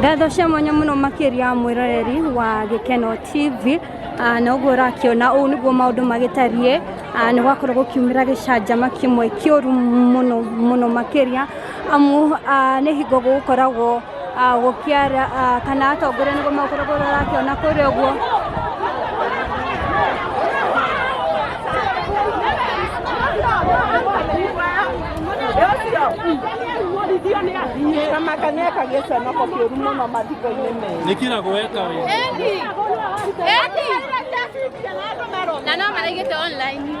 ngatho cia mwanya muno makiria mwiroreri wa gikeno tv Ah, na ũguo ũrakiona ũũ nĩguo maũndũ magĩtariĩ Ah, nĩ gwakorwo gũkiumĩra gĩcanjama kĩmwe kĩũru mũno mũno makĩria amu ah, nĩ hingo gũgũkoragwo ah, gũkiara ah, kana atongoria nĩguo makoragwo rakĩona kũrĩa ũguo kamakanyeka gĩconoko kĩũru mũno mathiko-inĩ mega nĩ kĩra gweka we na no maraigĩte online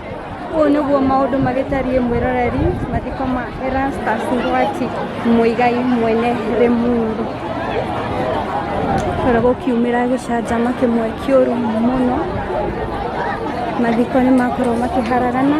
Ũũ nĩguo maũndũ magĩtariĩ mwĩroreri mathiko ma Erastus Ngwati Mũigai mwene Rĩmuru. Bara gũkiumĩra gĩcanjama kĩmwe kĩũru mũno, mathiko nĩ makorwo makĩharagana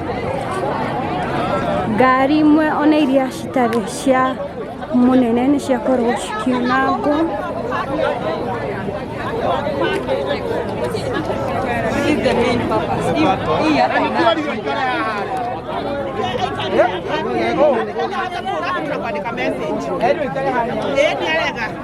ngari imwe ona iria citarĩ cia mũnene nĩ ciakorwo cikiunangwo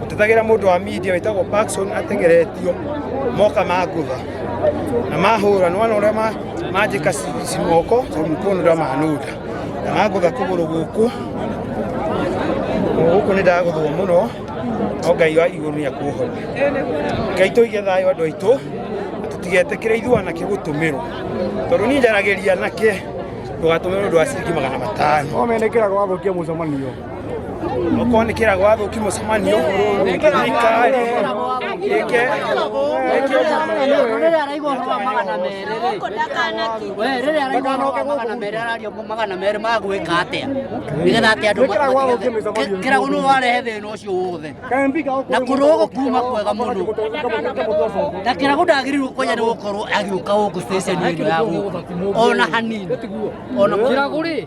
gũtetagĩra mũndũ wa media wĩtagwo Paxson atengeretio moka mangũtha na mahũra nĩ wona ũrĩa ma- manjĩka ci- cimoko tondũ mkono ũrĩa manũnda na mangũtha kũgũrũ gũkũ gũkũ nĩ ndagũthwo mũno no ngai wa igũrũ nĩ akũhona ngai tũige thayũ andũ aitũ na tũtigetĩkĩre ithuana kĩ gũtũmĩrwo tondũ niĩ njaragĩria nake ndũgatũmĩrwo ũndũ wa ciringi magana matano no menekera gwathũkia mũcemanio okorwo nä kä rago wathå ki må cemanio thirikari ä ke rĩrĩa araigua ũhoro wa magana merĩ rĩ we rĩrĩa araigua ũhoro wa magana merĩ arario mo magana merĩ ma gwĩka atĩa nĩgetha atĩ andũ Wĩkĩrago wa gũkĩ mĩcemanio. matige- kĩrago nĩ warehe thĩna ũcio wothe na kũrũgũ kuma kwega mũno na kĩrago ndagĩrĩirwo kwenya nĩ gũkorwo agĩũka gũkũ station ĩno ya gũkũ ona hanini ona kĩrago rĩ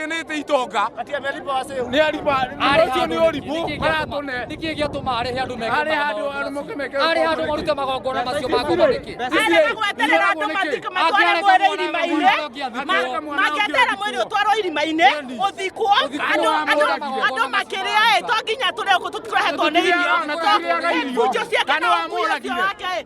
nĩte itonga Ati amelipa wase. nä ariba Arĩ ũcio nä å handũ- ribå nĩkĩ gĩatũma- aratåne nĩkĩ gĩatũma arĩhe andũ meke Arĩ handũ maũndũ andũ moke meke macio? arĩ handũ maũndũ marute magongona macio ma ngoma nĩkĩ arega gweterera andå matika matware mwä rä irima-inä maketerera mwä rä å twarwo irima-inä å thikwo andå makä rä aä to nginya tå rä å kå tå tikårehetwo nä irio bunjo ciake na å muoyo ũcio wake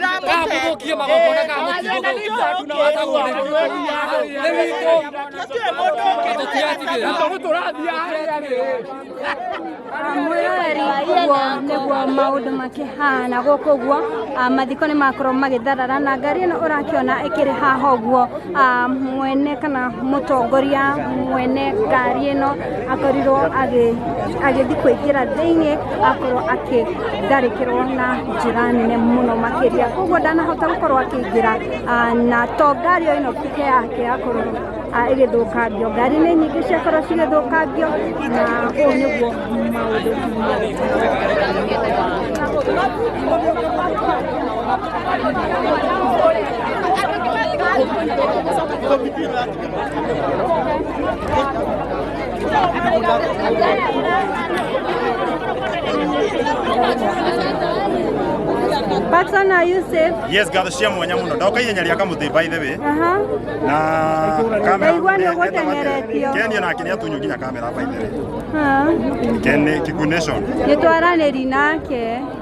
Kamukia magongona kamukia nĩguo maũndũ makĩhana gũkũ guo mathiko nĩ makorwo magĩtharara na ngari ĩno ũrakĩona ĩkĩrĩ haha ũguo mwene kana mũtongoria mwene ngari ĩno akorirwo agĩthiĩ kũingĩra thĩinĩ akorwo akĩtharĩkĩrwo na njĩra nene mũno makĩria koguo ndanahota gũkorwo akĩingĩra na to ngari o ĩno peke yake yakorwo ĩgĩthũkangio ngari nĩ nyingĩ ciakorwo cigĩthũkangio na ũũ nĩguo maũndũ Patson, are you safe? yes ngatho cia mwanya muno ndoka ihenya rĩa kamuthĩ by the way Aha. na kamera Ndaigua nĩ ũgũtengeretio. kenio nake nĩ atunyu nginya kamera by the way Ha. Ken- Kikuyu nation Nĩ twaranĩri nake.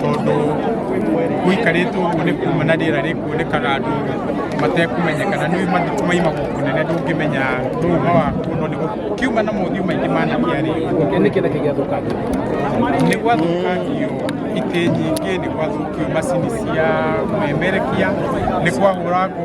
tondũ gũikarĩte ũguo nĩ kuma na rĩera rĩkuonekaga andũ matekũmenyeka na nĩũĩ mathiko maimagwo kũnene ndũngĩmenya ndũma waku no nĩ kiuma na mothiũ maingĩ managia rĩ nĩ kĩna kĩgĩathũkangio nĩ gwathũkangio itĩ nyingĩ nĩ gwathũkio macini cia memerekia nĩ kwahũrangwo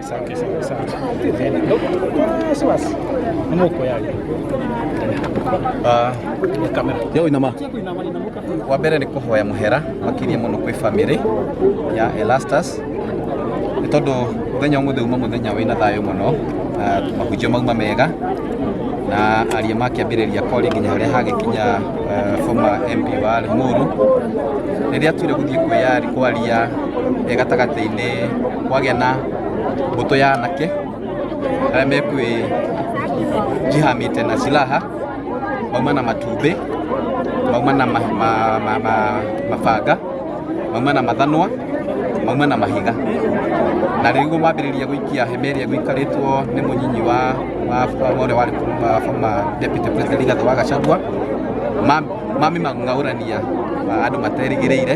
Asante sana sana. Ah, si basi. Mama uko yayo. Ah, Ni kamera. Yo inama. wa mbere nĩ kũhoya mũhera makĩria mũno kwĩ bamĩrĩ ya Elastus nĩ tondũ mũthenya ũmũthĩ uma mũthenya wĩna thayũ mũno na mahunjio mauma mega na aria makĩambĩrĩria kori nginya harĩa hagĩkinya eh, former MP wa Limuru rĩrĩa tuire gũthiĩ kwĩyari kwaria eh, gatagatĩ-inĩ kwagĩa na mbũtũ ya anake arĩa mekwĩ jihamĩte na silaha mauma na matumbĩ mauma na ma, ma, ma, ma, mabanga mauma na mathanwa mauma na mahiga na rĩu mambĩrĩria gũikia hema ĩrĩa gũikarĩtwo nĩ mũnyinyi wa wa- wa- ũrĩa warĩ former- former deputy president Rigathĩ wa Gachagua mamĩmang'aũrania andũ materĩgĩrĩire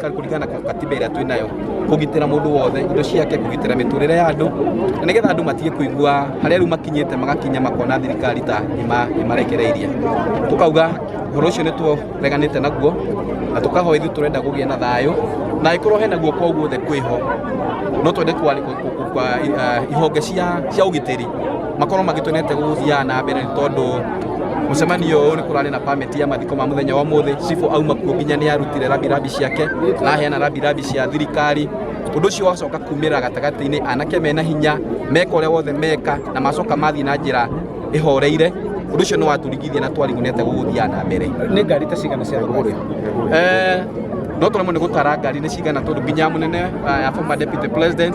kuringana na katiba ĩrĩa twĩ nayo kũgitĩra mũndũ wothe indo ciake kũgitĩra mĩtũrĩre ya andũ na nĩgetha andũ matige kũigua harĩa rĩu makinyĩte magakinya makona thirikari ta ĩma- ĩmarekereirie tũkauga ũhoro ũcio nĩ tũreganĩte naguo na tũkahoya ithuĩ tũrenda gũgĩa na thayũ na angĩkorwo hena guoko o guothe kwĩho no twende kwari- kwa- kwa- kwa- ihonge cia cia ũgitĩri makorwo magĩtwenete gũgũthiaga na mbere nĩ tondũ mũcemanio ũyũ nĩ kũrarĩ na permit ya mathiko ma mũthenya wa ũmũthĩ cibũ auma kuo nginya nĩ arutire rabirabi ciake na aheana rabirabi cia thirikari ũndũ ũcio wacoka kumĩra gatagatĩ-inĩ anake mena hinya meka ũrĩa wothe meka na macoka mathiĩ na njĩra ĩhoreire ũndũ ũcio nĩ watũrigithia na twarigunete gũgũthiaga na mbere nĩ ngari ta cigana cia thogorĩ no tũremwo nĩ gũtara ngari nĩ cigana tondũ nginya mũnene uh, former deputy president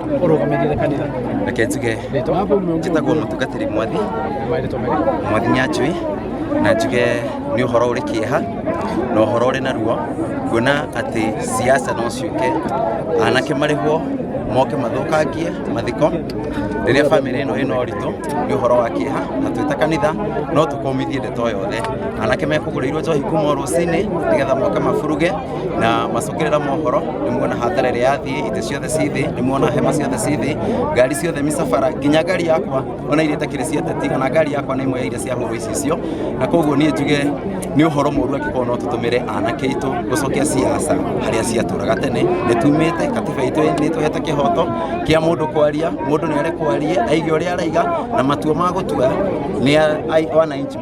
ũrũgamĩrĩire kanitha reke njuge njĩtagwo mũtungatĩri mwathi marĩtwa marĩkũ mwathi nyanjui na njuge nĩ ũhoro ũrĩ kĩeha na ũhoro ũrĩ na ruo kuona atĩ siasa no ciũke anake marĩhwo moke mathũkangie mathiko rĩrĩa bamĩrĩ ĩno ĩna ũritũ nĩ ũhoro wa kĩeha na twĩta kanitha no tũkũmithie ndeto yothe anake mekũgũrĩirwo njohi kuma o rũcinĩ nĩgetha moke maburuge na macokerera mohoro nĩ muona hathara ĩrĩa yathiĩ itĩ ciothe ci thĩ nĩ muona hema ciothe ci thĩ ngari ciothe mĩcabara nginya ngari yakwa ona iria itakĩrĩ cia teti ona ngari yakwa nĩ imwe ya iria ciahũrwo icicio na koguo niĩ njuge nĩ ũhoro mũru angĩkorwo no tũtũmĩre anake aitũ gũcokia ciaca harĩa ciatũraga tene nĩ tumĩte katiba itũ nĩ tũhete kĩhoto kĩa mũndũ kwaria mũndũ nĩ arekwarie aige ũrĩa araiga na matua ma gũtua nĩ a- ai- wananchi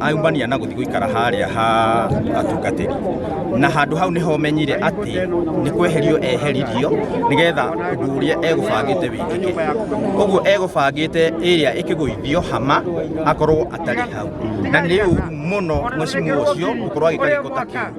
aumania na gũthiĩ gũikara harĩa ha atungatĩri na handũ hau nĩho menyire atĩ nĩ kweherio eheririo nĩgetha ũndũ ũrĩa egũbangĩte wĩkĩke ũguo egũbangĩte ĩrĩa ĩkĩgũithio hama akorwo atarĩ hau na nĩ ũru mũno mũcimu ũcio gũkorwo agĩka gĩko ta kĩu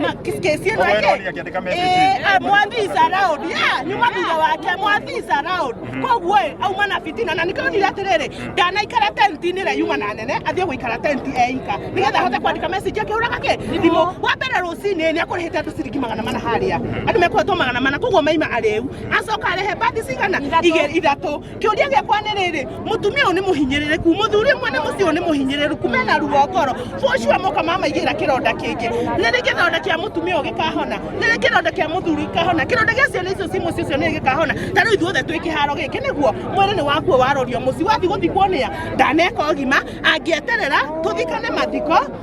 Ma- kesi- kesi yenu Oboe yake. Roni akiandika message. Eh, ah, mwathi is allowed. Yeah, ni mwathi thutha wake mwathi is allowed. koguo ĩ auma na bitina na nĩkĩronire atĩrĩrĩ ndanaikara tenti-inĩ ĩrĩa yuma na nene athiĩ gũikara tenti eika nĩgetha ahote kwandĩka message akĩhũraga kĩ thimũ wa mbere rũcinĩ nĩ akũrĩhĩte andũ ciringi magana mana harĩa andũ mekũhetwo magana mana koguo maima arĩu acoka arehe bathi cigana igĩrĩ ithatũ Kĩũria gĩakwa nĩ rĩrĩ, mũtumia ũyũ nĩ mũhinyĩrĩrĩku, mũthuri ũmwe nĩ mũciĩ ũyũ nĩ mũhinyĩrĩrĩku, mena ruo ngoro, for sure moka mamaigĩra kĩronda kĩngĩ. Rĩrĩ kĩronda kĩa mũtumia ũyũ gĩkahona, rĩrĩ kĩronda kĩa mũthuri gĩkahona, kĩronda gĩa ciana icio ciĩ mũciĩ ũcio nĩ gĩkahona. Ta rĩu ithuothe twĩ kĩharo gĩkĩ nĩguo, mwĩrĩ nĩ wakuo warorio mũciĩ, wathiĩ gũthikwo nĩa? Ndaneka ũgima, angĩeterera tũthikane mathiko,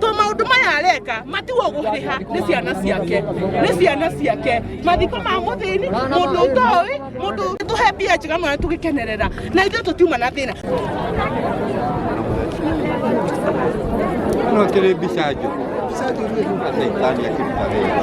to maundu maya areka matiwo guhiha ni ciana ciake ni ciana ciake mathiko ma muthini mundu utowi mundu tuhe mbia njega mwana tugikenerera na ithuĩ tũtiuma na thĩna No kĩrĩ mbica njũ. Mbica njũ rĩu nĩ Shetani akĩruta wĩra.